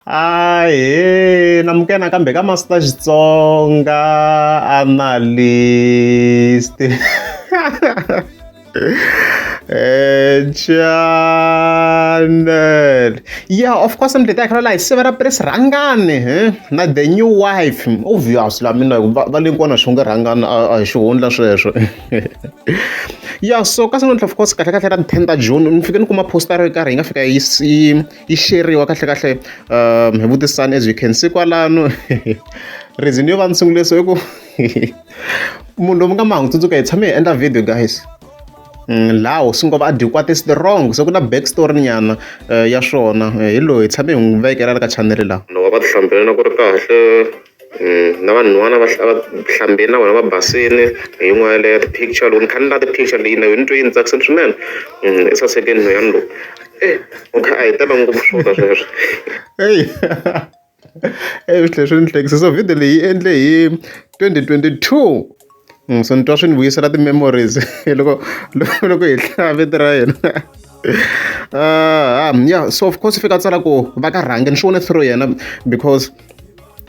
Ahee namukena kambe ka Master Xitsonga analyst channel yeah of course mi tita khara la hi sivera pres rhangani he na the new wife obvious la mina va le kona swi nge rhangani a hi xihundla sweswo ya so ka san'wantlha of course kahle kahle ra ten ta june ni fike ni kuma poster ro karhi yi nga fika yi yi sheriwa kahlekahle um hi vutisani as you can see kwalano reason yo va ni sungule so i ku munhu lomu nga mahungu tsundzuka hi tshame hi endla video guys mm, lawo swi ngova a dyikwate is the wrong so ku na back story nyana eh, ya swona eh, hi loyi hi tshame hi n'wi vekela la ka chanele lawa loko va ti hlambela na ku ri kahle na vanhwana va va hlambile na vona va basile hi yin'wana yaleyo ti-picture loko ni kha ni la ti-picture leyi na yo ni twe yi ni tsakisile swinene i saseke nhweyani lowu e u kha a hi tala ngopfu swona sweswo eyi eyi swi tlhela swi ni hlekisa so video leyi yi endle hi twenty twenty two. So ni twa swi ni vuyisela ti-memories loko loko loko hi hlaya vito ra yena ya so of course i fika a tsala ku va ka rhangi ni swi vone through yena because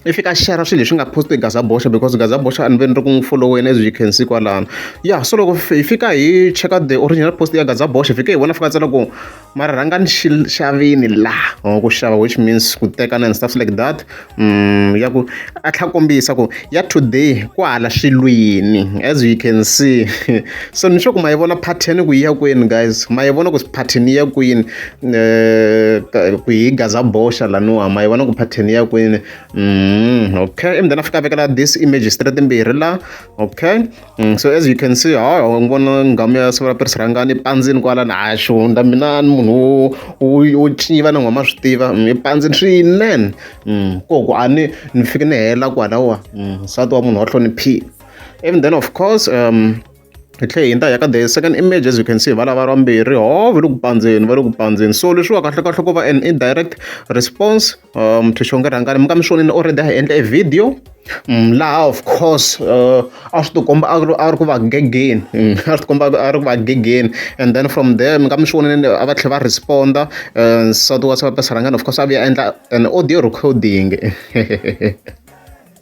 i fika a share-ra swilo leswi nga post-we hi Gazaboxe because Gazaboxe a ni ve ni ri ku n'wi follow-weni as you can see kwalano ya so loko hi fika hi cheka the original post ya Gazaboxe hi fike hi vona a fika a tsala ku. mara rhanga ni xi xavini laha or ku xava which means ku tekana and stuff like that um ya ku a tlha kombisa ku ya today ku hala swilwini as you can see so ni sure ku ma yi vona pattern ku yi ya kwini guys ma yi vona ku pattern yi ya kwini eh, ku yi gaza boxa laniwa ma yi vona ku pattern ya kwini um okay and then a fika a vekela this image straight mbirhi la okay Mm, so as you can see hayi ni vona nghamu ya sivula pirisi rhangani pandzini kwalani hayi swi hundza mina ni munhu wo tiva ni nghoma swi tiva mm, pandzini swinene mm, koku a ni ni fike ni hela kwalawa nsati wa munhu wa hloniphile even then of course um hi tlhe hi nta ya ka the second image as you can see va lava vambirhi ho va le ku pandzeni va le ku pandzeni so leswiwa kahlekahle ku va an indirect response uh, muthu xonge rhangani mi ka mi swonile already a hi endla e video mm, laha of course uh, a swi tikomba a ri ku va gegeni mm, a swi tikomba a ri ku va gegeni and then from there mi ka mi swonile a va tlhela va responda uh, nsati wa sapapesa rhangani of course a vuya endla an audio recording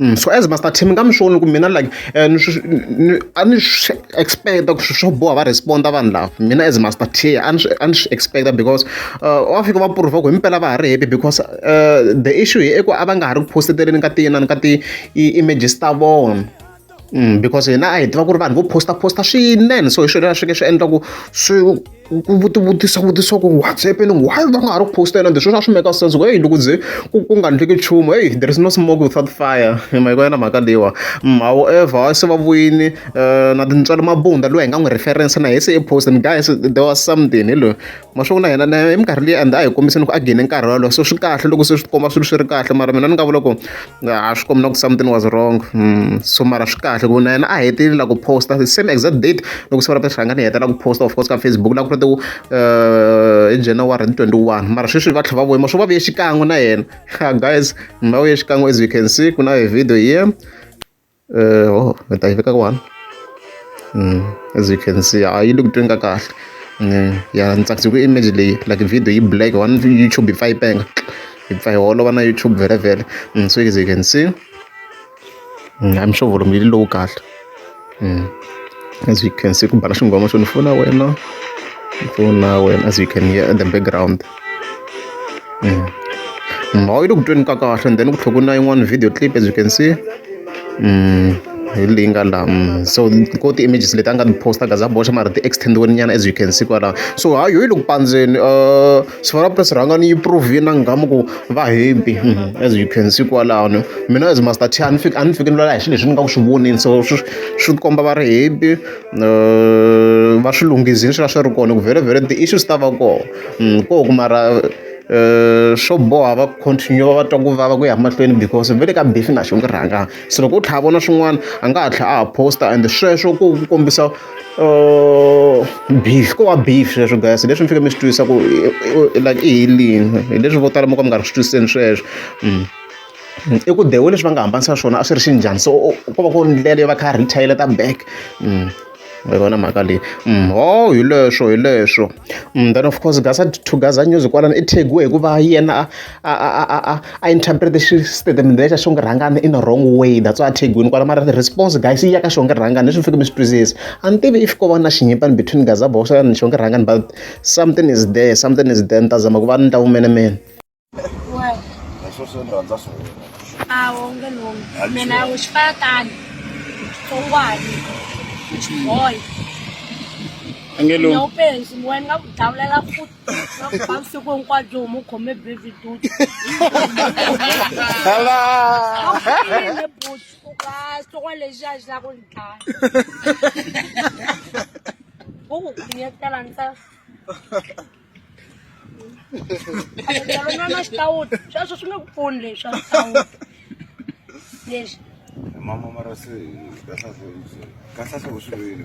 Mm, so as master team nga mi swi voni ku mina like eh, a ni swi expecta ku swo boha va responda vanhu lava mina as master t a ni swi expecta because eh, wa fika va prova ku hi mpela va ha ri happy because eh, the issue hi eku a va nga ha ri ku posteteleni ka tina ni ka ti-images ta vona mm, because hina a hi tiva ku ri vanhu vo posta posta swinene so hi swona leswi ke swi endla ku swi ku vutisa vutiso ku what's happening why va nga ha ri ku postela ende sweswi a swi meka sense ku heyi loko ze ku ku nga ndleki nchumu heyi there is no smoke without fire mahiko yena mhaka leyiwa mm, however se va vuyini eh, na tintswalo mabunda loyi hi nga n'wi reference na hi se i post and guys there was something hi loyi mashoku na hina na hi minkarhi leyi and a hi kombiseni ku a gene nkarhi walowo so swi kahle loko se swi komba swilo swi ri kahle mara mina ni nga vula ku a swi kombi na ku something was wrong hmm, so mara swi kahle ku na yena a heteleli la ku posta the same exact date loko siku ra ta hlangana hi hetela ku posta of course ka facebook la ku ri tiku eh, hi january twenty one mara sweswi va tlhe va voyima swo va vuye xikan'we na yena guys va vuye xikan'we as you can see ku na hi video here Uh, oh, ni ta yi veka kwani mm, as you can see a yi le ku tweni ka kahle mm, ya ni tsakise ku image leyi like video yi black one youtube yi pfa yi penga yi pfa yi holova na youtube vele vele mm, so as you can see mm, i'm sure volume yi lowu kahle mm. as you can see ku bana xinghoma xo ni fona wena ni fona wena as you can hear in the background mm. mhawu yi le ku tweni ka kahle and then ku tlhela ku na yin'wana video clip as you can see mm. hi leyi nga la mm. so ko ti-images leti a nga ti-posta gaza boxa mara ti-extendiwe nyana as you can see kwalaho so ha yo yi le ku pandzeni uh, sifana press rhanga ni yi prove na nghamu ku va happy mm-hmm. as you can see kwalano mina as master t a ni fiki a ni fiki ni lwela hi xilo leswi ni nga ku swi vonini so swi komba va ri happy uh, va swi lunghizini swi va swi ri kona ku vhele vhele ti-issues ta va kona ko ku mara swo boha va continue va twa ku vava ku ya mahlweni because ve le ka Buffy na xi n'wi rhanga se loko u tlha vona swin'wana a nga ha tlha a ha post-a ende sweswo ku ku kombisa beef ko wa beef sweswo guys hi leswi mi fike mi swi twisa ku like i helini hi leswi vo tala mo ka mi nga ri swi twisiseni sweswo i ku the way leswi va nga hambanisa swona a swi ri xi njhani so ko va ku ri ndlela yo va kha a retaliate back. mi vona mhaka leyi mm, ho hi leswo hi leswo mm, then of course gasa to gaza news kwalano i thegiwe hikuva yena a interprete xitatimende lexa xonge rhangana in a wrong way that's why a thegiwini kwala mara response guys yi ya ka xonge rhangana leswi mi fike mi swi twisisa a ni tivi if ko va na xinyipani between gaza boxa ni xonge rhangana but something is there something is there ni ta zama ku va ni ta vumenemene leswo swi ni rhandza swona a wu nge lumi mina u xi fana tani xitsongwani xiboy angelou penzi ni wena nga ku dawulela futi na ku ba vusiku hinkwabyo huma u khome baby duty hala ne buti u ka xitsongwani lexi a xi la ku ni dlaya u ku khonyetela ntsena na xitawuti sweswo swi nge ku pfuni leswi a xitawuti leswi mama mara se kahlahla kahlahla u swi vile